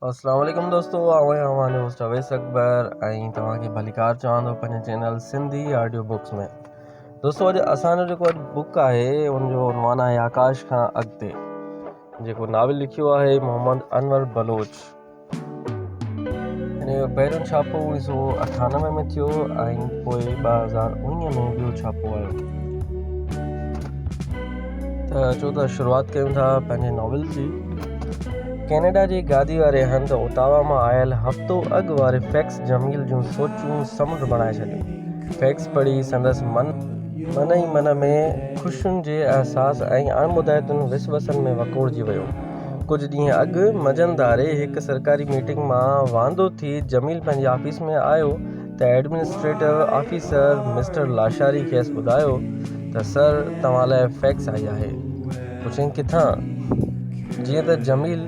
اسلام عليڪم دوستو آئون آهيان اوهان جو هوسٽ اويس اڪبر ۽ توهان کي ڀليڪار چوان ٿو پنهنجي چينل سنڌي آڊيو بڪس ۾ دوستو اڄ اسان جو جيڪو اڄ بڪ آهي ان جو عنوان آهي آڪاش کان اڳتي جيڪو ناول لکيو آهي محمد انور بلوچ هن جو پهريون ڇاپو اڻيهه سو اٺانوي ۾ ٿيو ۽ پوء ٻه هزار اڻيهه ۾ ٻيو ڇاپو آيو ته اچو ته شروعات ڪيون ٿا پنهنجي ناول جي ڪينيڊا جي گادي واري هنڌ اوتاوا مان آيل هفتو اڳ واري فيڪس جميل جون سوچون سمنڊ بڻائي ڇڏيون فيڪس پڙهي سندس من من ئي من ۾ خوشين جي احساس ۽ اڻٻڌائتن وسوسن ۾ وڪوڙجي ويو ڪجهه ڏينهن اڳ منجهند ڌاري هڪ سرڪاري ميٽنگ مان واندو ٿي جميل پنهنجي آفيس ۾ آيو ته ايڊمنسٽريٽو آفيسر مسٽر لاشاري کيس ٻڌايو ته سر توهان لاء فيڪس آئي آهي. پڇيائين ڪٿان؟ جيئن ته جميل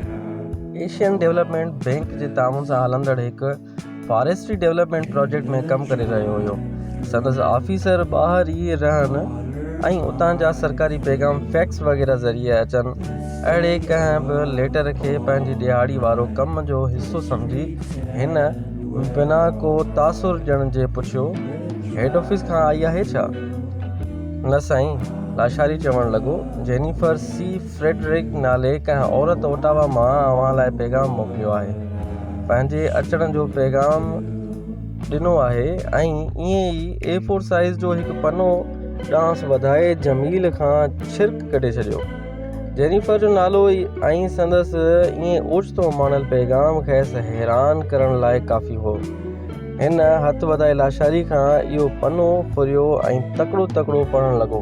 ايشين ڊيولپمينٽ بئنڪ جي تعاون سان هلندڙ هڪ فاريسٽري ڊيولپمينٽ پراجيڪٽ ۾ ڪم ڪري رهيو هيو. سندس آفيسر ٻاهر ئي رهن ۽ اتان جا سرڪاري پيغام فيڪس وغيره ذريعي اچن، اهڙي ڪنهن به ليٽر کي پنهنجي ڏيهاڙي وارو ڪم جو حصو سمجهي هن بنا ڪو تاثر ڏيڻ جي پڇيو، هيڊ آفيس کان آئي آهي ڇا؟ نه سائين، لاشاري چوڻ لڳو، جينيفر سي فريڊرڪ نالي ڪنهن عورت اوٽاوا مان اوهان لاء پيغام موڪليو آهي. پنهنجي اچڻ جو پيغام ڏنو آهي ۽ ائين ئي اي فور سائيز جو هڪ پنو ڏانهس وڌائي جميل کان ڇرڪ ڪڍي ڇڏيو. جينيفر جو نالو ۽ سندس ائين اوچتو ماڻيل پيغام کيس حيران ڪرڻ لاء ڪافي هو. هن هٿ وڌائي لاشاري کان اهو پنو ڦريو ۽ تڪڙو تڪڙو پڙهڻ لڳو.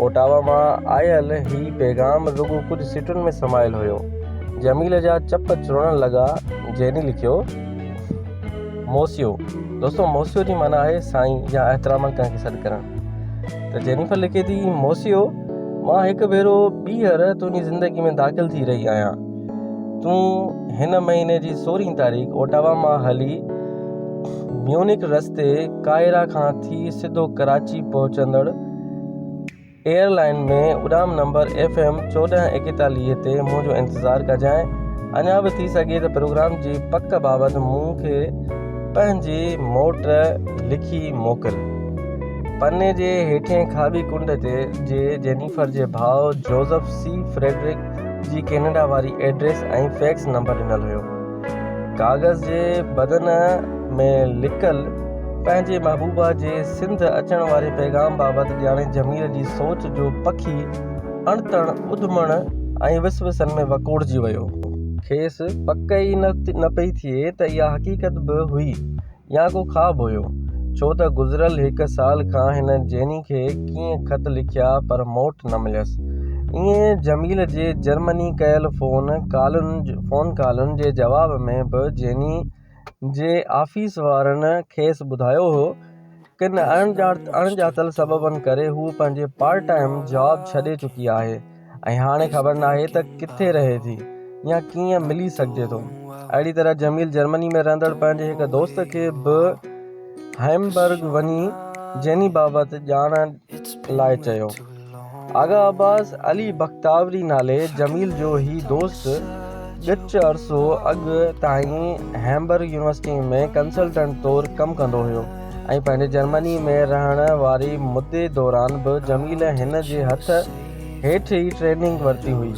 اوٽاوا مان آيل هي پيغام رڳو ڪجهه سٽن ۾ سمايل هيو. جميل جا چپ چرڻ لڳا. جيني لکيو، موسيو. دوستو موسيو جي معنيٰ آهي سائين يا احتراما ڪنهن کي سڏ ڪرڻ. ته جينيفر لکي ٿي، موسيو! مان هڪ ڀيرو ٻيهر تنهنجي زندگي ۾ داخل ٿي رهي آهيان تون هن مهيني جي سورهين تاريخ اوٽاوا مان هلي ميونڪ رستي قاهرا کان ٿي سڌو ڪراچي پهچندڙ ايئر لائن ۾ اڏام نمبر ايف ايم چوڏهن ايڪيتاليهه تي منهنجو انتظار ڪجانء اڃا به ٿي سگهي ته پروگرام جي پڪ بابت مون کي پنهنجي موٽ لکي موڪل پني جي هيٺين کاٻي ڪنڊ تي جي جينيفر جي ڀاء جوزف سي فريڊرڪ جي ڪينيڊا واري ايڊريس ۽ فيڪس نمبر ڏنل هيو. ڪاغذ جي بدن ۾ لڪل پنهنجي محبوبا جي سنڌ اچڻ واري پيغام بابت ڄاڻي ضمير جي سوچ جو پکي اڻتڻ اڌمڻ ۽ وسوسن ۾ وڪوڙجي ويو. کيس پڪ ئي نه پئي ٿئي ته اها حقيقت به هئي يا ڪو خواب هيو، ڇو ته گذريل هڪ سال کان هن جيني کي ڪيئي خط لکيا پر موٽ نه مليس. ائين جميل جي جرمني ڪيل فون ڪالن فون ڪالن جي جواب ۾ به جيني جي آفيس وارن کيس ٻڌايو هو ڪن اڻڄاتل سببن ڪري هوء پنهنجي پارٽ ٽائيم جاب ڇڏي چڪي آهي ۽ هاڻي خبر ناهي ته ڪٿي رهي ٿي يا ڪيئن ملي سگهجي ٿو. اهڙي طرح جميل جرمني ۾ رهندڙ پنهنجي هڪ دوست کي به هئمبرگ وڃي جيني بابت ڄاڻڻ لاء چيو. آغا عباس علي بختاوري نالي جميل جو هي دوست ڳچ عرصو اڳ تائين هيمبرگ يونيورسٽيء ۾ ڪنسلٽنٽ طور ڪم ڪندو هيو ۽ پنهنجي جرمنيء ۾ رهڻ واري مدي دوران به جميل هن جي هٿ هيٺ ئي ٽريننگ ورتي هئي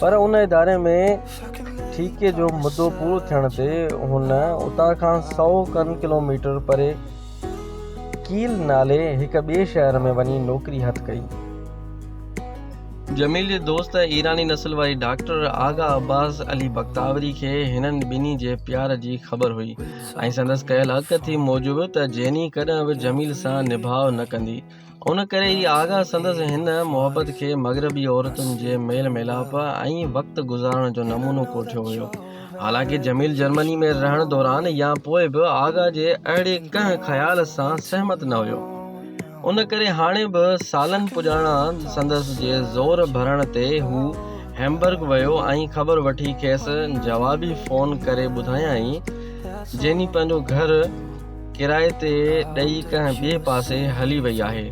پر ان اداري ۾ ٺيڪي جو مدو پورو ٿيڻ تي هن اتان کان سؤ کن ڪلوميٽر پري ڪيل نالي هڪ ٻئي شهر ۾ وڃي نوڪري هٿ ڪئي. جميل جي دوست ۽ ايراني نسل واري doctor Agha Abbas Ali Bakhtawari کي هنن ٻنهي جي پيار جي خبر هئي ۽ سندس ڪيل اڳڪٿي موجب ته جيني ڪڏهن به جميل سان نڀاء نه ڪندي. ان ڪري ئي آغا سندس هن محبت کي مغربي عورتن جي ميل ميلاپ ۽ وقت گذارڻ جو نمونو ڪوٺيو هيو. حالانڪه جميل جرمني ۾ رهڻ دوران يا پوء به آغا جي اهڙي ڪنهن خيال سان سهمت نه هيو. ان ڪري هاڻي به سالن پڄاڻان سندس جي زور ڀرڻ تي هو هيمبرگ ويو ۽ خبر وٺي کيس جوابي فون ڪري ٻڌايائين جيني پنهنجو گهر ڪرائي تي ڏئي ڪنهن ٻئي پاسي هلي وئي آهي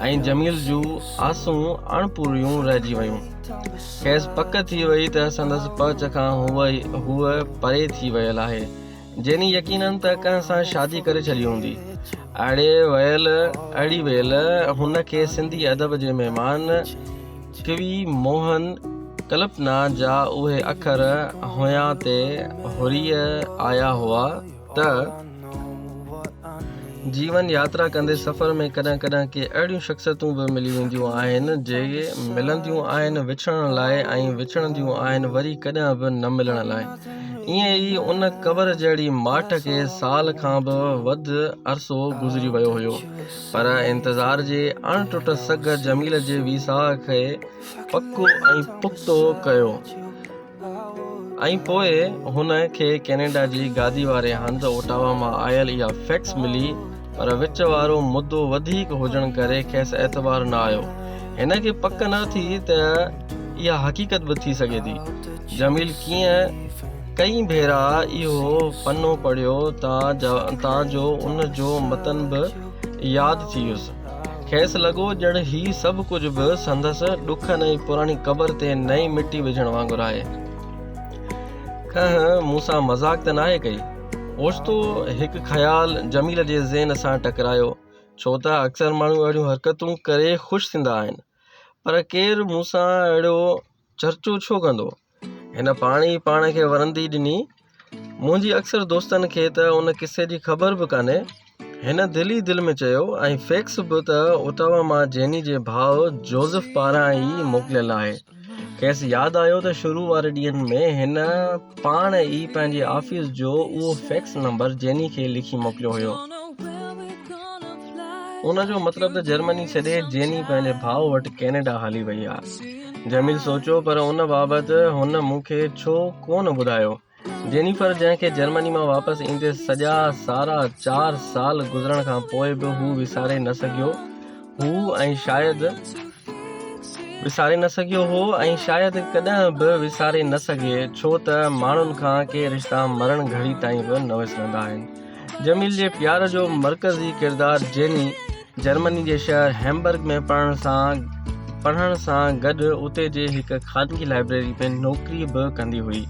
۽ جميل جون آسون اڻ پوريون رهجي ويون. کيس پڪ ٿي وئي ته سندس پهچ کان هوء پري ٿي ويل آهي. جيني يقيناً ته ڪنهن سان شادي ڪري ڇڏي هوندي. اڙي ويل اڙي ويل هن کي سنڌي ادب جي مهمان ڪوي موهن ڪلپنا جا اهي اکر هنيان تي هري آيا هئا. ته جيون ياترا ڪندي سفر ۾ ڪڏهن ڪڏهن ڪي اهڙيون شخصيتون به ملي وينديون آهن جي ملنديون آهن وڇڙڻ لاء ۽ وڇڙنديون آهن وري ڪڏهن به نه ملڻ لاء ائين ئي ان قبر جهڙي ماٺ کي سال کان به وڌ عرصو گذري ويو هيو پر انتظار جي اڻ ٽٽ سگهه جميل جي ويساهه کي پڪو ۽ پختو ڪيو ۽ پوء هن کي ڪينيڊا جي گادي واري هنڌ اوٽاوا مان آيل اها فيڪس ملي پر وچ وارو مدو وڌيڪ هجڻ ڪري کيس اعتبار نه آيو. هن کي پڪ نه ٿي ته اها حقيقت به ٿي سگهي ٿي. جميل ڪيئن ڪئين ڀيرا اهو پنو پڙهيو تان جو ان جو متن به ياد ٿي ويس. کيس لڳو ڄڻ هي سڀ ڪجهه به سندس ڏکن ۽ پراڻي قبر تي نئين مٽي وجهڻ وانگر آهي. کنهن مون سان مذاق ته ناهي ڪئي؟ اوچتو هڪ خيال جميل جي ذهن سان ٽڪرايو، ڇو ته اڪثر ماڻهو اهڙيون حرڪتون ڪري خوش ٿيندا آهن. پر ڪير مون سان اهڙو چرچو ڇو ڪندو؟ هن پاڻ ئي پاڻ کي ورندي ڏني. منهنجي اڪثر دوستن کي ته ان قصي جي خبر به ڪانهي. هن دل ئي دل ۾ چيو ۽ فيڪس به ته اوٽاوا مان جيني جي ڀاء جوزف پاران ئي موڪليل آهي. کيس ياد آيو ته شروع واري ڏينهن ۾ هن پاڻ ئي پنهنجي آفيس جو اهو فيڪس نمبر جيني کي لکي موڪليو هيو. ان جو مطلب ته جرمني ڇڏي جيني پنهنجي ڀاء وٽ ڪينيڊا هلي وئي آهي. جميل سوچيو پر ان بابت هن مون کي ڇو ڪونه ٻڌايو؟ جينيفر جنهن کي جرمني مان واپس ايندي سڄا سارا چار سال گذرڻ کان پوء به هو وساري نه سگهيو هو ۽ شايد وساري نه سگهيو هو ۽ شايد ڪڏهن به وساري نه سگهي ڇو ته ماڻهن کان ڪي رشتا مرڻ گهڙي تائين به نه وسرندا آهن جميل جي پيار جو مرڪزي ڪردار جيني جرمني جي شهر هيمبرگ ۾ پڙهڻ سان پڙهڻ سان گڏ اتي جي هڪ خانگي لائبريري ۾ نوڪري به ڪندي هئي.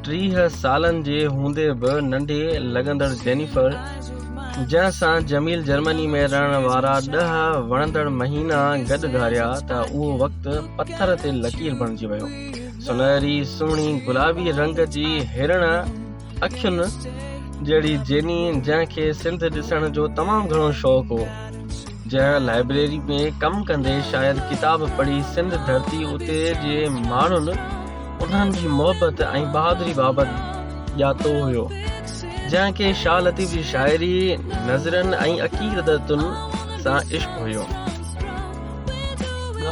ٽيهه سالن جي هوندي به ننڍي لڳندڙ جينيفر، جنهن سان جميل جرمني ۾ رهڻ وارا ڏهه وڻندڙ مهينا گڏ گهاريا ته اهو وقت پٿر تي لڪير بڻجي ويو. سونهري، سهڻي، گلابي رنگ جي هرڻ، اکين جهڙي جيني جنهن کي سنڌ ڏسڻ جو تمام گهڻو شوق هو جنهن لائبريري ۾ ڪم ڪندي شايد ڪتاب پڙهي سنڌ ڌرتي اتي جي ماڻهن انهن جي محبت ۽ بهادري بابت ڄاتو هيو جنهن کي شاهه لطيف جي شاعري نظرن ۽ عقيدتن سان عشق هيو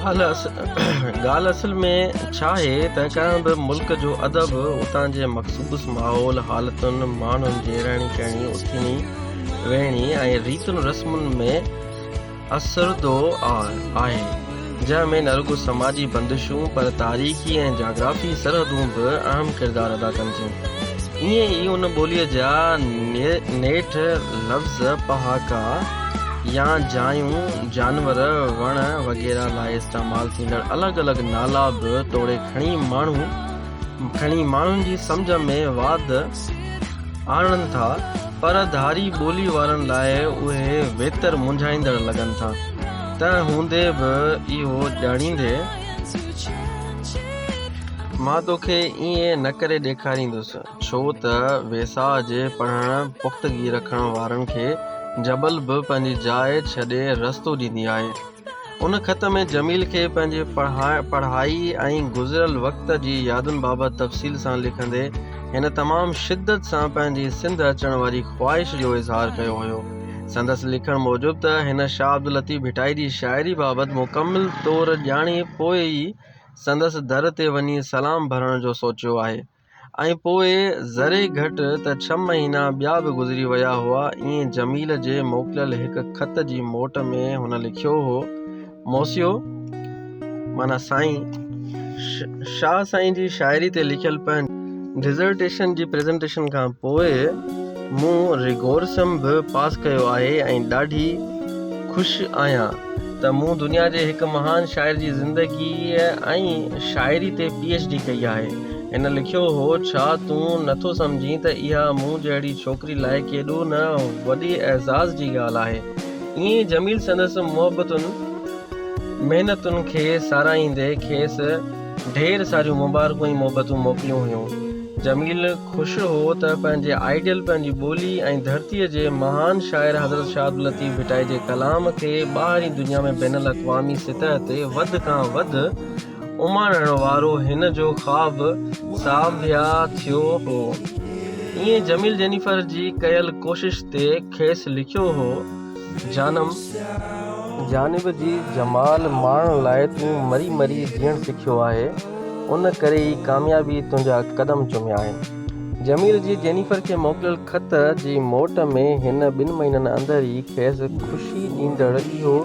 ڳالهه اصل ۾ ڇا آهي ته ڪنهن به ملڪ جو ادب اتان جي مخصوص ماحول حالتن ماڻهن جي رهڻي ڪهڻي اٿيڻي ويهڻي ۽ ريتن رسمن ۾ اسرندو آهي جنهن ۾ نه رڳو سماجي بندشون پر تاريخي ۽ جاگرافي سرحدون به اهم ڪردار ادا ڪن ٿيون ائين ئي ان ٻوليء جا نيٺ لفظ پهاڪا يا جايون، جانور، وڻ وغيره لاء استعمال ٿيندڙ الڳ الڳ نالا به توڙي کڻي ماڻهو کڻي ماڻهن جي سمجهه ۾ واڌ آڻن ٿا پر ڌاري ٻولي وارن لاء اهي ويتر منجهائيندڙ لڳن ٿا. تنهن هوندي به اهو ڄاڻيندي مان توکي ائين نه ڪري ڏيکاريندس. ڇو ته ويساهه جي پڙهڻ پختگي رکڻ وارن کي جبل به پنهنجي جاء ڇڏي رستو ڏيندي آهي. ان خط ۾ جميل کي پنهنجي پڙهائي ۽ گذريل وقت جي يادن بابت تفصيل سان لکندي هن تمام شدت سان پنهنجي سنڌ اچڻ واري خواهش جو اظهار ڪيو هيو. سندس لکڻ موجب ته هن شاهه عبداللطيف ڀٽائي جي شاعري بابت مڪمل طور ڄاڻي پوء ئي سندس در تي وڃي سلام ڀرڻ جو سوچيو آهي. ۽ پوء ذري گهٽ ته ڇهه مهينا ٻيا به گذري ويا هئا. ائين جميل جي موڪليل هڪ خط جي موٽ ۾ هن لکيو هو، موسيو، معنيٰ سائين، شاهه سائين جي شاعري تي لکيل پنهنجي ڊزرٽيشن جي پريزنٽيشن کان پوء، مون ريگورسم به پاس ڪيو آهي ۽ ڏاڍي خوش آهيان ته مون دنيا جي هڪ مهان شاعر جي زندگيء ۽ شاعري تي پي ايڇ ڊي ڪئي آهي. هن لکيو هو، ڇا تون نه ٿو سمجهين ته اها مون جهڙي ڇوڪري لاء ڪيڏو نه وڏي اعزاز جي ڳالهه آهي؟ ائين جميل سندس محبتن، محنتن کي ساراهيندي کيس. ڍير ساريون مبارڪون ۽ محبتون موڪليون هيون. جميل خوش هو ته پنهنجي آئيڊيل پنهنجي ٻولي ۽ ڌرتيء جي مهان شاعر حضرت شاهه عبداللطيف ڀٽائي جي ڪلام کي ٻاهرين دنيا ۾ بين الاقوامي سطح تي وڌ کان وڌ اماڻڻ وارو هن جو خواب ساڀيا ٿيو هو. ائين جميل جينيفر جي ڪيل ڪوشش تي کيس لکيو هو. جانم! جانب جي جمال ماڻڻ لاء تون مري مري جيئڻ سکيو آهي، ان ڪري ئي ڪاميابيء تنهنجا قدم چميا آهن. جميل جي جينيفر کي موڪليل خط جي موٽ ۾ هن ٻن مهينن اندر ئي کيس خوشي ڏيندڙ اهو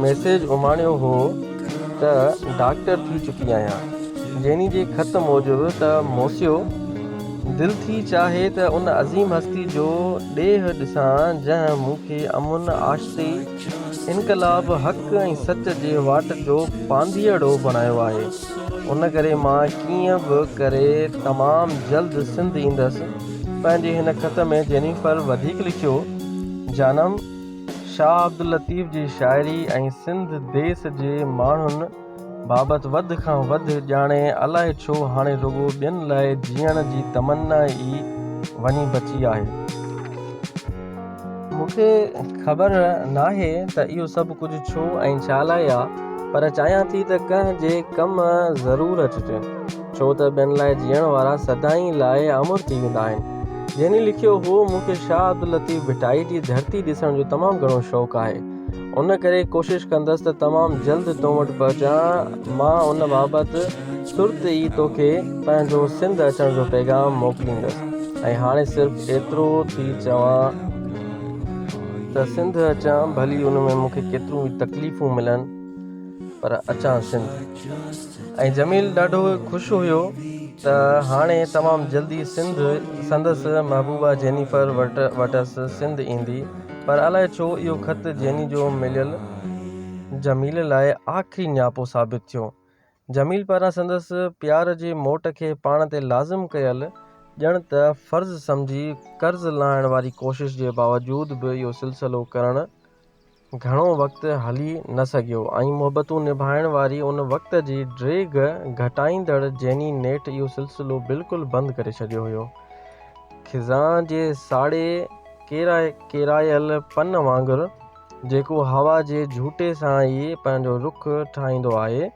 ميسيج اماڻيو هو ته، ڊاڪٽر ٿي چڪي آهيان. جيني جي خط موجب ته موسيو، دل ٿي چاهي ته ان عظيم هستي جو ڏيهه ڏسان جنهن مون کي امن، آشتي، انقلاب، حق ۽ سچ جي واٽ جو پانڌيئڙو بڻايو آهي. ان ڪري مان ڪيئن به ڪري تمام جلد سنڌ ايندس. پنهنجي هن خط ۾ جينيفر وڌيڪ لکيو، جانم، شاهه عبداللطيف جي شاعري ۽ سنڌ ديس جي ماڻهن، بابت وڌ کان وڌ ڄاڻي الائي ڇو هاڻي رڳو ٻين لاء جيئڻ جي تمنا ئي وڃي بچي آهي. مون کي خبر ناهي ته اهو سڀ ڪجهه ڇو ۽ ڇا لاء آ پر چاهيان ٿي ته ڪنهن جي ڪم ضرور اچجي ڇو ته ٻين لاء جيئڻ وارا سدائين لاء امر ٿي ويندا آهن. جيني لکيو هو مون کي شاهه عبداللطيف ڀٽائي جي ڌرتي ڏسڻ جو تمام گهڻو شوق آهي. ان ڪري ڪوشش ڪندس ته تمام جلد تو وٽ پهچان. مان ان بابت ترت ئي توکي پنهنجو سنڌ اچڻ جو پيغام موڪليندس ۽ هاڻي صرف ايترو ٿي چوان ته سنڌ اچان ڀلي ان ۾ مون کي ڪيتريون به تڪليفون ملن پر اچان سنڌ ۽ جميل ڏاڍو خوش هيو ته هاڻي تمام جلدي سنڌ سندس محبوبا جينيفر وٽس سنڌ ايندي. پر الائي ڇو اهو خط جيني جو مليل جميل لاء آخري نياپو ثابت ٿيو. جميل پاران سندس پيار جي موٽ کي پاڻ تي لازم ڪيل ڄڻ ته فرض سمجهي قرض لاهڻ واري ڪوشش جي باوجود به اهو سلسلو ڪرڻ گهڻو وقت هلي نه سگهيو ۽ محبتون نڀائڻ واري ان وقت جي ڊيگهه گهٽائيندڙ جيني نيٺ اهو سلسلو بلڪل بند ڪري ڇڏيو هيو. خزان جي ساڙهي ڪيرائي ڪيرايل پن وانگر، جيڪو هوا جي جهوٽي سان ئي پنهنجو رخ ٺاهيندو آهي،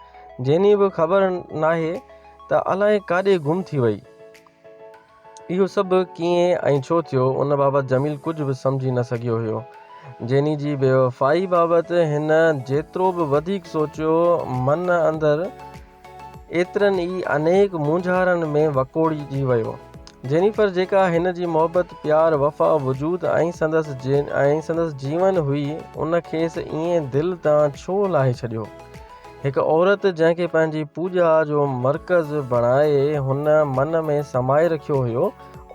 جنهن به خبر ناهي ته الائي ڪاڏي گم ٿي وئي. اهو سڀ ڪيئن ۽ ڇو ٿيو، ان بابت جميل ڪجهه به سمجهي نه سگهيو هيو. جيني جي بيوفائي بابت هن جيترو به وڌيڪ سوچيو، من اندر ايترن ئي انيڪ مونجهارن ۾ وڪوڙجي ويو. جينيفر جيڪا هن جي محبت، پيار، وفا، وجود ۽ سندس ۽ سندس جيون هئي، ان کيس ائين دل تان ڇو لاهي ڇڏيو؟ هڪ عورت جنهن کي پنهنجي پوڄا جو مرڪز بڻائي هن من ۾ سمائي رکيو هيو،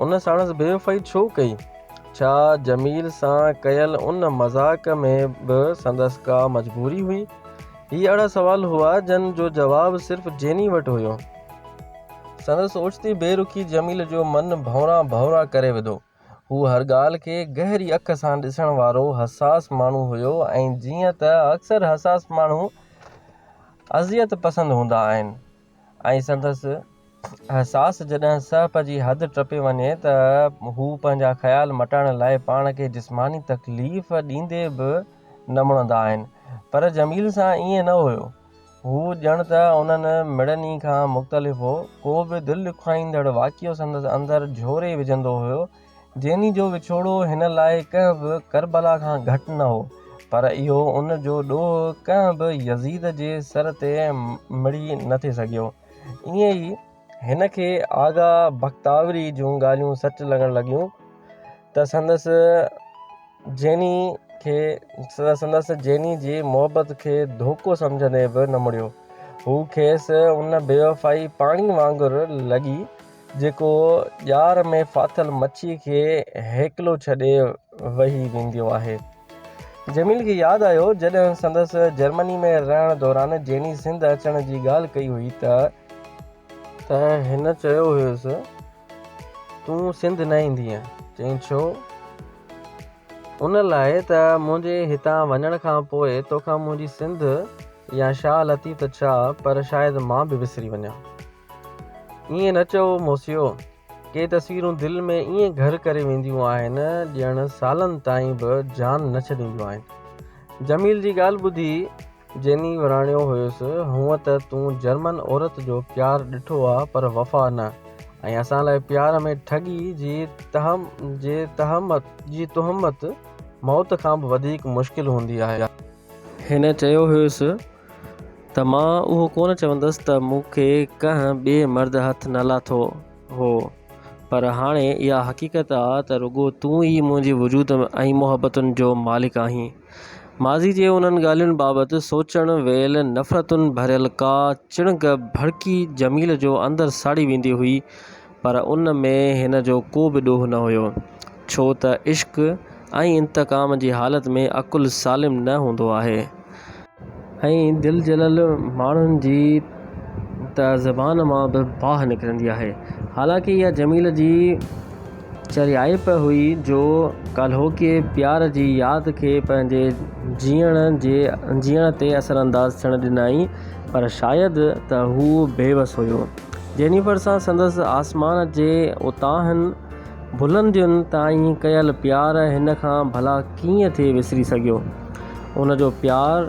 ان ساڻس بيوفائي ڇو ڪئي؟ ڇا جميل سان ڪيل ان مذاق ۾ به سندس ڪا مجبوري هئي؟ هي اهڙا سوال هئا جن جو جواب صرف جيني وٽ هيو. سندس اوچتي بي رخي جميل جو من ڀونرا ڀونرا ڪري وڌو. هو هر ڳالهه کي گهري اک سان ڏسڻ وارو حساس ماڻهو هيو ۽ جيئن ته اڪثر حساس ماڻهو اذيت پسند هوندا آهن، ۽ سندس احساس جڏهن سهپ جي حد ٽپي وڃي ته هو پنهنجا خيال مٽائڻ لاء پاڻ کي جسماني تڪليف ڏيندي به نه مڙندا آهن. پر جميل سان ائين نه هيو. هو ڄڻ ته انهن مڙني کان مختلف هو. ڪو به دل ڏکوائيندڙ واقعو سندس اندر جهوري وجهندو هيو. جيني جو وڇوڙو هن لاء ڪنهن به ڪربلا کان گهٽ نه هو، پر اهو ان جو ڏوهه ڪنهن به يزيد جي سر تي مڙهي نه ٿي سگهيو. ائين ئي هن کي آغا بختاوري جون ڳالهيون سچ لڳڻ لڳيون ته سندس جيني کي سندس جيني جي محبت کي ڌوڪو سمجهندي به نه مڙيو. هو کيس ان بيوفائي پاڻي وانگر لڳي جيڪو ڄار ۾ ڦاٿل مڇي کي هيڪلو ڇڏي وهي وينديو آهي. جميل کي ياد آيو جڏهن سندس جرمني ۾ رهڻ دوران جيني سنڌ اچڻ جي ڳالهه ڪئي هئي ته. ته هن چيو هيس تون سنڌ نه ايندينء؟ چيائين ڇو؟ ان لاء ته منهنجي هتان وڃڻ کان پوء توکان منهنجي سنڌ يا شاهه لطيف ته ڇا پر شايد مان به وسري وڃان. ائين نه چئو موسيو، ڪي تصويرون دل ۾ ائين گهر ڪري وينديون آهن ڄڻ سالن تائين به جان نه ڇڏينديون آهن. جميل جي ڳالهه ٻڌي جيني وراڻيو هيس، هونء ته تون جرمن عورت جو پيار ڏٺو آ پر وفا نه ۽ اسان لاء پيار ۾ ٺڳي جي تهمت موت کان به وڌيڪ مشڪل هوندي آهي. هن چيو هيس. ته مان اهو ڪونه چوندس ته مون کي ڪنهن ٻئي مرد هٿ نه لاٿو هو پر هاڻي اها حقيقت آ ته رڳو تون ئي منهنجي وجود ۽ محبتن جو مالڪ آهين. ماضي جي انهن ڳالهين بابت سوچڻ ويل نفرتن ڀريل ڪا چڻگ ڀڙڪي جميل جو اندر ساڙي ويندي هئي پر ان ۾ هن جو ڪو به ڏوهه نه هيو، ڇو ته عشق ۽ انتقام جي حالت ۾ عقل سالم نه هوندو آهي. ائين دل جلل ماڻهن جي ته زبان مان به باهه نڪرندي آهي. حالانڪه اها جميل جي چريائپ هئي جو ڪالهوڪي پيار جي ياد کي پنهنجي جيئڻ تي اثرانداز ٿيڻ ڏنائين، پر شايد ته هو بيوس هيو. جينيفر سان سندس آسمان جي اتاهن بلندين تائين ڪيل پيار هن کان ڀلا ڪيئن ٿي وسري سگهيو. ان جو پيار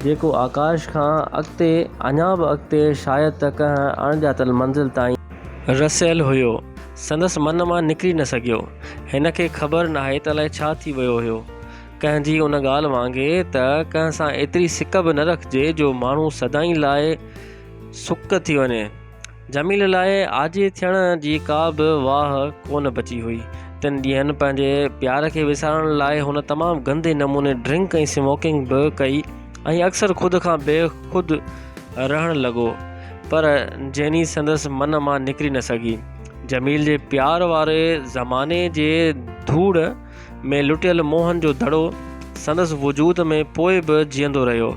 جيڪو آڪاش کان اڳتي اڃا به اڳتي شايد ته ڪنهن اڻڄاتل منزل تائين. رسيل هيو. سندس من مان نڪري نه سگهيو. هن کي خبر ناهي ته الائي ڇا ٿي ويو هيو. ڪنهن جي ان ڳالهه وانگي ته ڪنهن سان ايتري سڪ به نه رکجي جو ماڻهو سدائين لاء. سڪ ٿي وڃي. جميل لاء آجي ٿيڻ جي ڪا به واهه ڪونه بچي هئي. تن ڏينهن پنهنجي پيار کي وسارڻ لاء هن تمام گندي نموني ڊرنڪ ۽ سموڪنگ به ڪئي ۽ اڪثر خود کان بي خود رهڻ لڳو پر جيني سندس من مان نڪري نه سگهي. جميل جي پيار واري زماني جي ڌوڙ ۾ لٽيل موهن جو دڙو سندس وجود ۾ پوء به جيئندو رهيو.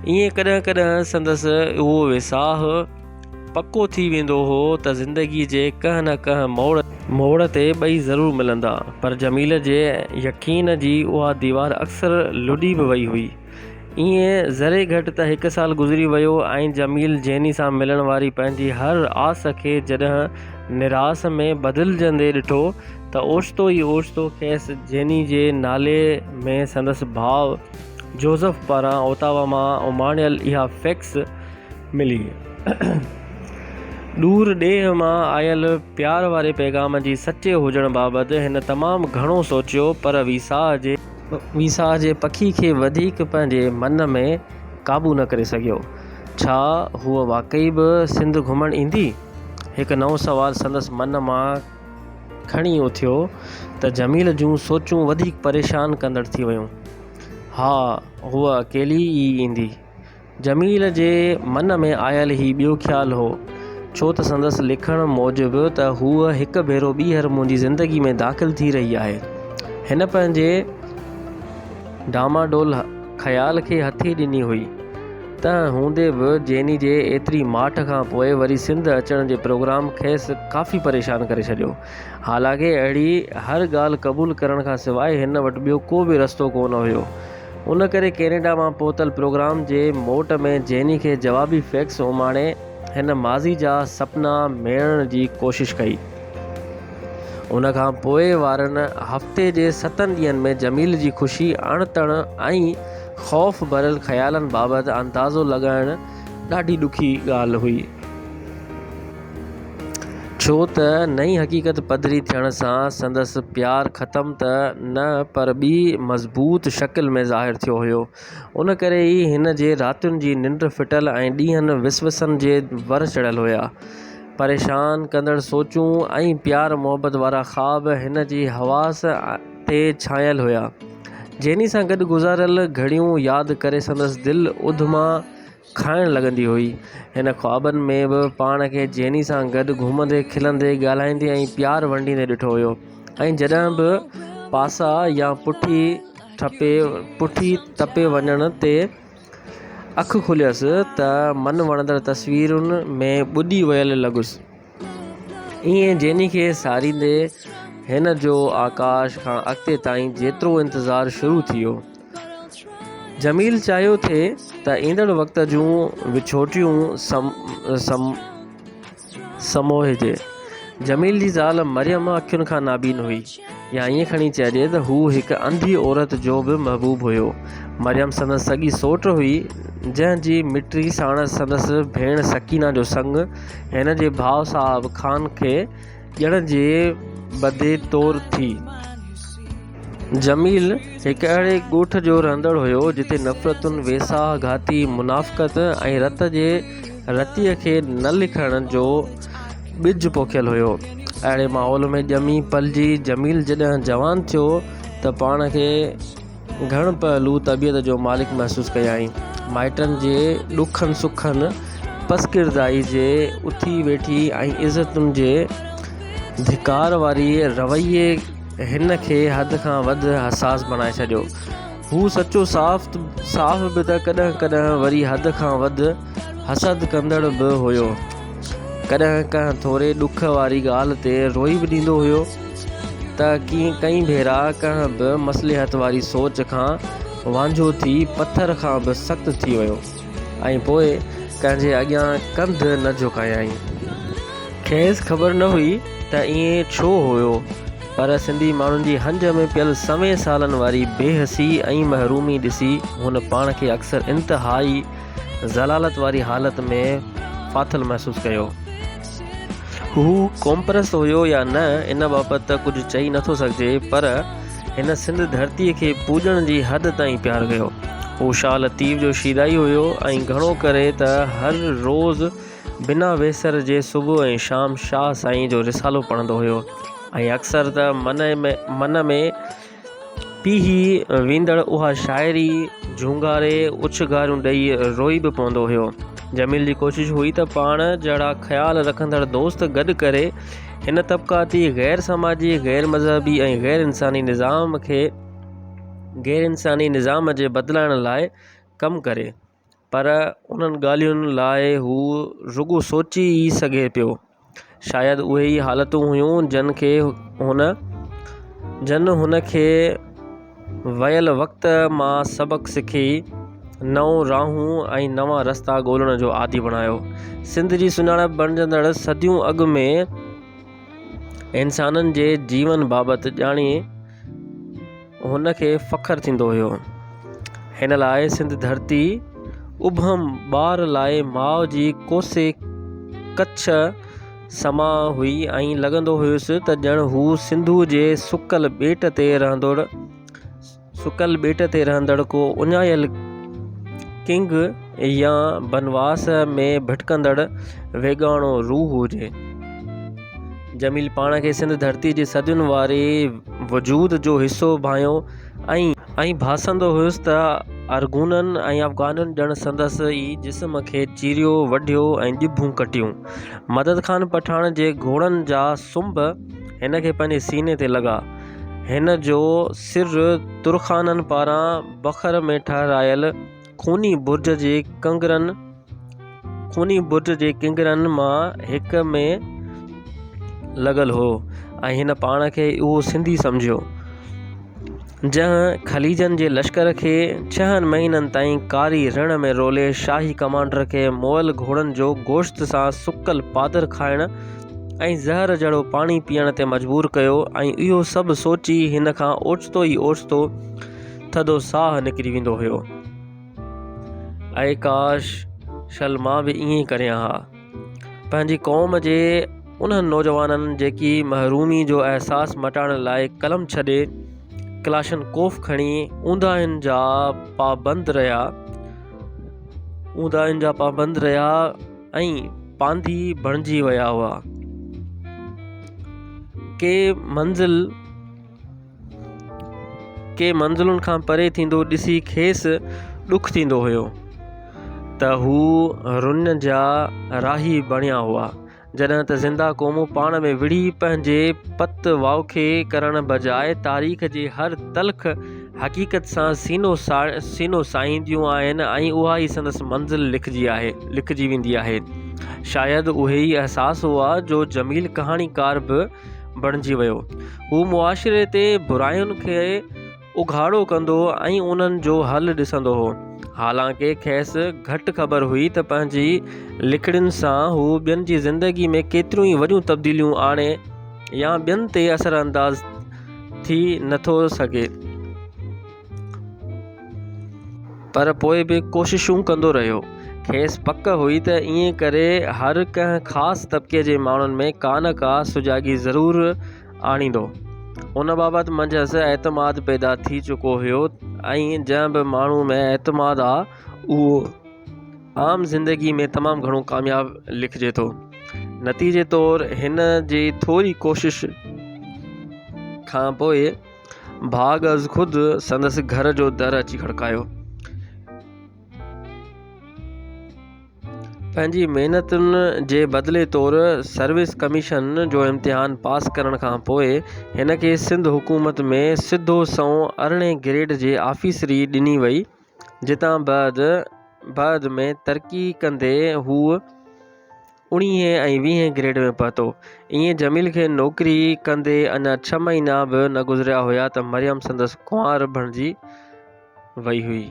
ائين ڪڏهن ڪڏهن سندس اهو ويساهه پڪو ٿي ويندو هو ته زندگي جي ڪنهن نه ڪنهن موڙ تي موڙ تي ٻئي ضرور ملندا پر جميله جي يقين جي اها ديوار اڪثر لڏي به وئي هئي. ائين ذري گهٽ ته هڪ سال گذري ويو ۽ جميل جيني سان ملڻ واري پنهنجي هر آس کي جڏهن نراس ۾ بدلجندي ڏٺو ته اوچتو ئي اوچتو کيس جيني جي نالي ۾ سندس ڀاء جوزف پاران اوتاوا مان اماڻيل اها فيڪس ملي. ڏور ڏيهه مان آيل پيار واري پيغام جي سچي هجڻ بابت هن تمام گهڻو سوچيو پر ويساهه جي. ويساهه جي پکي کي وڌيڪ پنهنجي من ۾ قابو نه ڪري سگهيو. ڇا هوء واقعي به سنڌ گهمڻ ايندي؟ هڪ نئون سوال سندس من مان کڻي اٿيو ته جميل جون سوچون وڌيڪ پريشان ڪندڙ ٿي ويون. ها هوء اڪيلي ئي ايندي. جميل جي من ۾ آيل هي ٻيو خيال هو، ڇو ته سندس لکڻ موجب ته هوء هڪ ڀيرو ٻيهر منهنجي زندگي ۾ داخل ٿي رهي آهي. هن پنهنجي ڊاماڊول خيال کي هٿي ڏني هئي. تنهن هوندي به جيني جي ايتري ماٺ کان پوء وري سنڌ اچڻ جي پروگرام کيس ڪافي پريشان ڪري ڇڏيو. حالانڪه اهڙي هر ڳالهه قبول ڪرڻ کان سواء هن وٽ ٻيو ڪو به رستو ڪونه هيو. ان ڪري ڪينيڊا مان پهتل پروگرام جي موٽ ۾ جيني کي جوابي فيڪس اماڻي هن ماضي جا سپنا ميڙڻ جي ڪوشش ڪئي. ان کان پوء وارن هفتي جي ستن ڏينهن ۾ جميل جي خوشي، اڻ تڻ ۽ خوف ڀريل خيالن بابت اندازو لڳائڻ، ڏاڍي ڏکي ڳالهه هئي، ڇو ته نئين حقيقت پڌري ٿيڻ سان سندس پيار ختم ته نه پر ٻي مضبوط شڪل ۾ ظاهر ٿيو هيو. ان ڪري ئي هن جي راتين جي ننڊ ڦٽل ۽ ڏينهن وسوسن جي ور چڙهيل هيا. پريشان ڪندڙ سوچون ۽ پيار محبت وارا خواب هن جي حواس تي ڇانيل هيا. جيني سان گڏ گذاريل گهڙيون ياد ڪري سندس دل اڌما کائڻ لڳندي هئي. هن خوابن ۾ به پاڻ کي جيني سان گڏ گهمندي، کلندي، ڳالهائيندي ۽ پيار ونڊيندي ڏٺو هيو ۽ جڏهن به پاسا يا پٺي ٽپي وڃڻ تي اک کليس ته من وڻندڙ تصويرن ۾ ٻڏي ويل لڳس. ائين جيني کي ساريندي هن جو آڪاش کان اڳتي تائين جيترو انتظار شروع ٿي ويو. جميل چاهيو ٿي ته ايندڙ وقت جون وڇوٽيون سموهجي. جميل جي زال مريم اکين کان نابين هئي. يا ائين کڻي چئجي ته هو هڪ انڌي عورت جو به محبوب هيو. مريم سندس سڳي سوٽ هئي، جنهن جي مٽي ساڻس سندس ڀيڻ سڪينه جو سڱ هن جي ڀاء صاحب خان کي ڄڻ جي بدي طور ٿي. جميل هڪ اهڙي ڳوٺ جو رهندڙ هيو، جتي نفرتون، ويساهه گهاتي منافقت ۽ رت جي رتيء کي نه لکڻ جو ٻج پوکيل هيو اهڙي ماحول ۾ ڄمي پلجي جميل جڏهن جوان ٿيو ته پاڻ کي گهڻ پهلو طبيعت جو مالڪ محسوس ڪيائين مائٽن جي ڏکن سکن پسڪردائي جي اٿي ويٺي ۽ عزتن جي ڌڪار واري رويي هن کي حد کان وڌ حساس بڻائي ڇڏيو هو سچو صاف صاف به ته ڪڏهن ڪڏهن وري حد کان وڌ حسد ڪندڙ به هيو. ڪڏهن ڪنهن ٿوري ڏک واري ڳالهه تي روئي به ڏيندو هيو ته ڪئين ڀيرا ڪنهن به مصلحت واري سوچ کان وانجهو ٿي پٿر کان به سخت ٿي ويو ۽ پوء ڪنهن جي اڳيان ڪنڌ نه جهڪايائين. کيس خبر نه هئي ته ائين ڇو هيو پر سنڌي ماڻهن جي هنج ۾ پيل سوين سالن واري بي حسي ۽ محرومي ڏسي هن پاڻ کي اڪثر انتهائي ذلالت واري حالت ۾ ڦاٿل محسوس ڪيو. هو قومپرست هيو يا نه ان بابت ته ڪجهه چئي نه ٿو سگهجي پر هن سنڌ ڌرتي کي پوڄڻ جي حد تائين پيار ڪيو. هو شاهه لطيف جو شيدائي هيو ۽ گهڻو ڪري ته هر روز بنا ويسر جي صبح ۽ شام شاهه سائين جو رسالو پڙهندو هيو ۽ اڪثر ته من ۾ پيهي ويندڙ اها شاعري جهونگاري اڇنگاريون ڏئي روئي به پوندو هيو. جميل جي ڪوشش هئي ته پاڻ جهڙا خيال رکندڙ دوست گڏ ڪري هن طبقاتي، غير سماجي، غير مذهبي ۽ غير انساني نظام کي غير انساني نظام جي بدلائڻ لاء ڪم ڪري. پر انهن ڳالهين لاء هو رڳو سوچي ئي سگهي پيو شايد اهي ئي حالتون هيون جن کي هن جن هن کي ويل وقت مان سبق سکي نئون راهون ۽ نوان رستا ڳولڻ جو عادي بڻايو سنڌ جي سڃاڻپ بڻجندڙ صديون اڳ ۾ انسانن جي جيون بابت ڄاڻي هن کي فخر ٿيندو هيو. هن لاء سنڌ ڌرتي ابهم ٻار لاء ماء جي ڪوسي ڪڇ سما هئي ۽ لڳندو هيس ته ڄڻ هو سنڌوء جي سڪل ٻيٽ تي رهندڙ سڪل ٻيٽ تي رهندڙ ڪو اڃايل ڪنگ يا بنواس ۾ ڀٽڪندڙ ويڳاڻو روح هجي. جميل پاڻ کي سنڌ ڌرتي جي صدين واري وجود جو حصو ڀانيو ۽ ڀاسندو هيس ته ارغونن ۽ افغانن ڄڻ سندس ئي جسم کي چيريو وڍيو ۽ ڄڀون ڪٽيون. مدد خان پٺاڻ جي گهوڙن جا سنب هن کي پنهنجي سيني تي لڳا. هن جو سر ترخانن پاران بکر ۾ ٺهرايل خوني برج جي ڪنگرن خوني برج جي ڪنگرن مان هڪ ۾ لڳل هو ۽ هن پاڻ کي اهو سنڌي سمجهيو جنهن خليجن جي لشڪر کي ڇهن مهينن تائين ڪاري رڻ ۾ رولي شاهي ڪمانڊر کي مئل گهوڙن جو گوشت سان سڪل پادر کائڻ ۽ زهر جهڙو پاڻي پيئڻ تي مجبور ڪيو ۽ اهو سڀ سوچي هن کان اوچتو ئي اوچتو ٿڌو ساهه نڪري ويندو هيو. اي ڪاش شل مان به ائين ئي ڪريان ها. پنهنجي قوم جي انهن نوجوانن جيڪي محرومي جو احساس مٽائڻ لاء قلم ڇڏي ڪلاشن ڪوف کڻي اونداهين جا پابند رهيا اونداهين جا پابند رهيا ۽ پانڌي بڻجي ويا هئا. ڪي منزل ڪي منزلن کان پري ٿيندو ڏسي کيس ڏک ٿيندو هيو ته هو رن جا راهي بڻيا هئا جڏهن ته زنده قومون پاڻ ۾ وڙهي پنهنجي پت واکي ڪرڻ بجاء تاريخ جي هر تلخ حقيقت سان سينو ساهينديون آهن ۽ اها ئي سندس منزل لکجي ويندي آهي شايد اهي ئي احساس هئا جو جميل ڪهاڻيڪار به بڻجي ويو. هو معاشري تي براين کي اگهاڙو ڪندو ۽ انهن جو حل ڏسندو هو. حالانڪه کيس گهٽ خبر هئي ته پنهنجي لکڻين سان هو ٻين جي زندگي ۾ ڪيتريون ئي وڏيون تبديليون آڻي يا ٻين تي اثرانداز ٿي نٿو سگهي. پر پوء به ڪوششون ڪندو رهيو. کيس پڪ هئي ته ائين ڪري هر ڪنهن خاص طبقي جي ماڻهن ۾ ڪا نه ڪا سجاڳي ضرور آڻيندو. ان بابت منجهس اعتماد پيدا ٿي چڪو هيو ۽ جنهن به ماڻهو ۾ اعتماد آ اهو عام زندگي ۾ تمام گهڻو ڪامياب لکجي ٿو. نتيجي طور هن جي ٿوري ڪوشش کان پوء ڀاڳ از خود سندس گهر جو در اچي کڙڪايو. پنهنجي محنتن جي بدلي طور سروس ڪميشن جو امتحان پاس ڪرڻ کان پوء هن کي سنڌ حڪومت ۾ سڌو سنئون ارڙهين گريڊ جي آفيسري ڏني وئي جتان بعد ۾ ترقي ڪندي هو اڻيهين ۽ ويهين گريڊ ۾ پهتو. ائين جميل کي نوڪري ڪندي اڃا ڇهه مهينا به نه گذريا هيا ته مريم سندس ڪنوار بڻجي وئي هئي.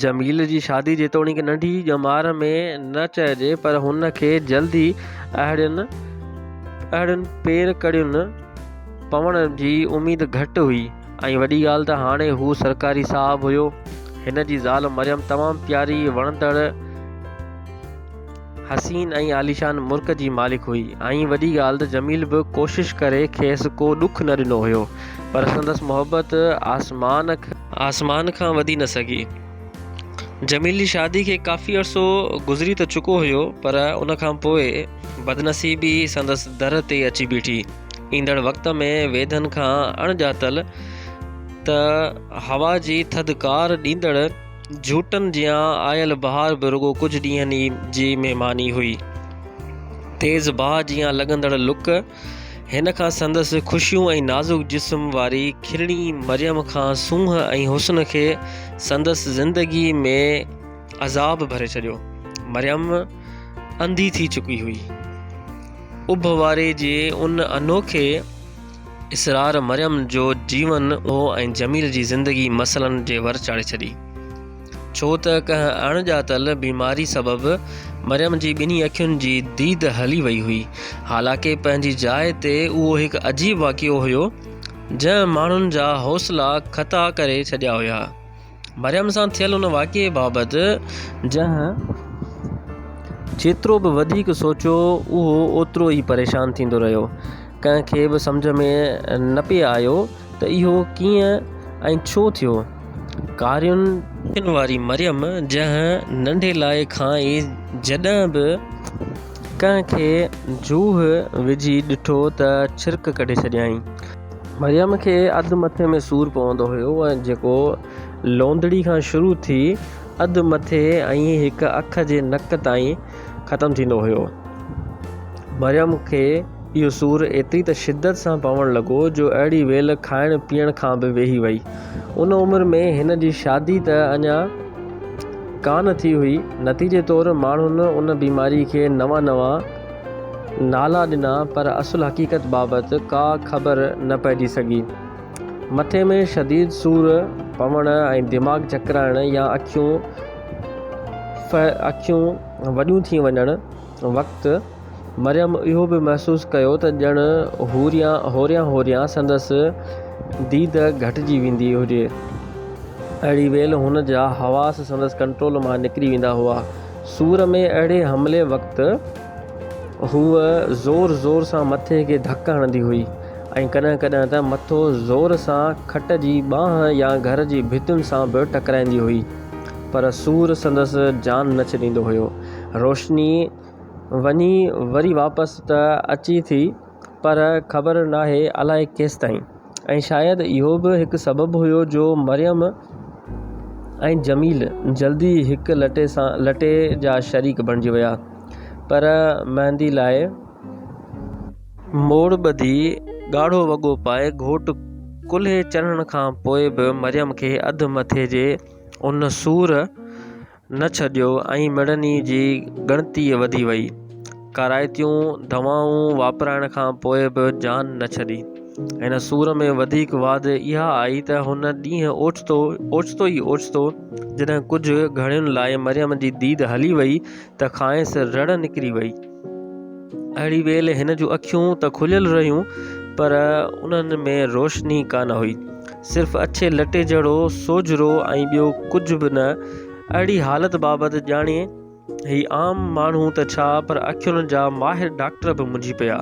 جميل جي شادي جيتوڻيڪ ننڍي ڄمار ۾ نه چئجي پر هن کي جلد ئي اهڙين اهڙين پير ڪڙين پوڻ جي اميد گهٽ هئي. ۽ وڏي ڳالهه ته هاڻي هو سرڪاري صاحب هيو. هن جي زال مريم تمام پياري، وڻندڙ، حسين ۽ عاليشان مرڪ جي مالڪ هئي ۽ وڏي ڳالهه ته جميل به ڪوشش ڪري کيس ڪو ڏک نه ڏنو هيو پر سندس محبت آسمان آسمان کان وڌي نه سگهي. جميل جي شادي کي ڪافي عرصو گذري ته چڪو هيو پر ان کان پوء بدنصيبي سندس در تي اچي بيٺي. ايندڙ وقت ۾ ويڌن کان اڻڄاتل ته هوا جي ٿڌڪار ڏيندڙ جھوٽن جيان آيل بهار به رڳو ڪجهه ڏينهن ئي جي مهماني هئي تيز باهه جيان لڳندڙ لڪ هن کان سندس خوشيون ۽ نازڪ جسم واري کلڻي مريم کان سونهن ۽ حسن کي سندس زندگي ۾ عذاب ڀري ڇڏيو مريم انڌي ٿي چڪي هئي اڀ واري جي ان انوکي اسرار مريم جو جيون هو ۽ جميل جي زندگي مسئلن جي ور چاڙهي ڇڏي ڇو ته ڪنهن اڻ ڄاتل بيماري سبب مريم جي ٻنهي اکين جي ديد هلي وئي هئي حالانڪه پنهنجي جاء تي اهو هڪ عجيب واقعو هيو جنهن ماڻهن جا حوصلا خطا ڪري ڇڏيا هيا مريم سان ٿيل ان واقعي بابت جنهن جيترو به وڌيڪ سوچيو اهو اوترو ئي پريشان ٿيندو رهيو. ڪنهن کي به سمجهه ۾ نه پئي آيو ته اهو ڪيئن ۽ ڇو ٿيو. ڪارين اکين واري مريم جنهن ننڍي لاء کان ئي جڏهن به ڪنهن کي جوهه وجهي ڏٺو ته ڇرڪ ڪڍي ڇڏيائين. مريم کي اڌ مٿي ۾ سور پوندو هيو جيڪو لونڌڙي کان شروع ٿي اڌ مٿي ۽ هڪ اک جي نڪ تائين ختم ٿيندو هيو. مريم کي اهو سور ايتري ته شدت سان پوڻ لڳو جو اهڙي ويل کائڻ پيئڻ کان به ويهي وئي. ان عمر ۾ هن جي شادي ته اڃا ڪانه ٿي هئي. نتيجي طور ماڻهن ان بيماري کي نوان نوان. نالا ڏنا پر اصل حقيقت بابت ڪا خبر نه پئجي سگهي. مٿي ۾ شديد سور پوڻ ۽ دماغ چڪرائڻ يا اکيون ڦ اکيون وڏيون ٿي وڃڻ وقت مريم اهو به محسوس ڪيو ته ڄڻ هوريان هوريان سندس ديد گهٽجي ويندي هجي. اهڙي ويل هن جا حواس سندس ڪنٽرول مان نڪري ويندا هئا. سور ۾ اهڙي حملي وقت هوء زور زور سان مٿي کي ڌڪ هڻندي هئي ۽ ڪڏهن ڪڏهن ته مٿو زور سان کٽ جي ٻانهن يا گهر جي ڀتين سان به ٽڪرائيندي هئي پر سور سندس جان نه ڇڏيندو هيو. روشني وڃي وري واپس ته اچي ٿي پر خبر ناهي الائي ڪيستائين. ۽ شايد اهو به هڪ سبب هيو جو مريم ۽ جميل جلدي هڪ لٽي جا شريڪ بڻجي ويا پر مهندي لاء موڙ ٻڌي ڳاڙهو وڳو پائي گهوٽ ڪلهي چڙهڻ کان پوء به مريم کي اڌ مٿي جي ان سور نه ڇڏيو ۽ مڙني جي ڳڻتي وڌي وئي. ڪارائتيون دوائون واپرائڻ کان پوء به جان نه ڇڏي. هن سور ۾ وڌيڪ واڌ اها آئي ته هن ڏينهن اوچتو اوچتو ئي اوچتو جڏهن ڪجهه گهڙين لاء مريم جي ديد هلي وئي ته کانئس رڙ نڪري وئي. اهڙي ويل هن جون اکيون ته کليل رهيون پر انهن ۾ روشني ڪانه هئي صرف اڇي لٽي جهڙو سوجهرو ۽ ٻيو ڪجهه به نه اهڙي حالت بابت ڄاڻي هي عام ماڻهو ته ڇا پر اکين جا ماهر ڊاڪٽر به منجهي پيا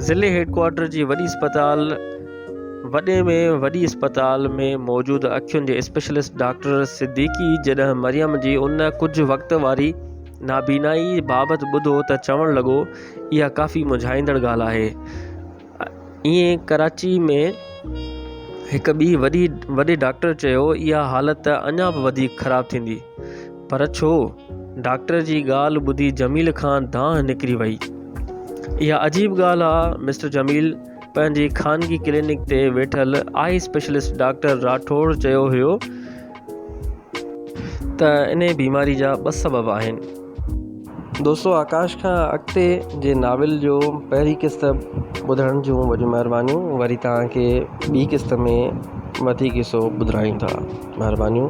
ضلعي هيڊڪوارٽر جي وڏي اسپتال وڏي ۾ وڏي اسپتال ۾ موجود اکين جي اسپيشلسٽ ڊاڪٽر صديقي جڏهن مريم جي ان ڪجهه وقت واري نابينائي بابت ٻڌو ته چوڻ لڳو اها ڪافي مونجهائيندڙ ڳالهه آهي. ايئن ڪراچي ۾ هڪ ٻي وڏي وڏي ڊاڪٽر چيو اها حالت اڃا به وڌيڪ خراب ٿيندي. پر ڇو؟ ڊاڪٽر جي ڳالهه ٻڌي جميل کان دانهن نڪري وئي. اها عجيب ڳالهه آ مسٽر جميل پنهنجي خانگي ڪلينڪ تي ويٺل آئي اسپيشلسٽ ڊاڪٽر راٺوڙ چيو هيو ته انهيء بيماري جا ٻه سبب آهن. دوستو آڪاش کان اڳتي جي ناول جو پهرين قسط ٻڌڻ جون وڏيون مهربانيون وري توهان کي ٻي قسط ۾ وڌيڪ حصو ٻڌرايون ٿا مهربانيون.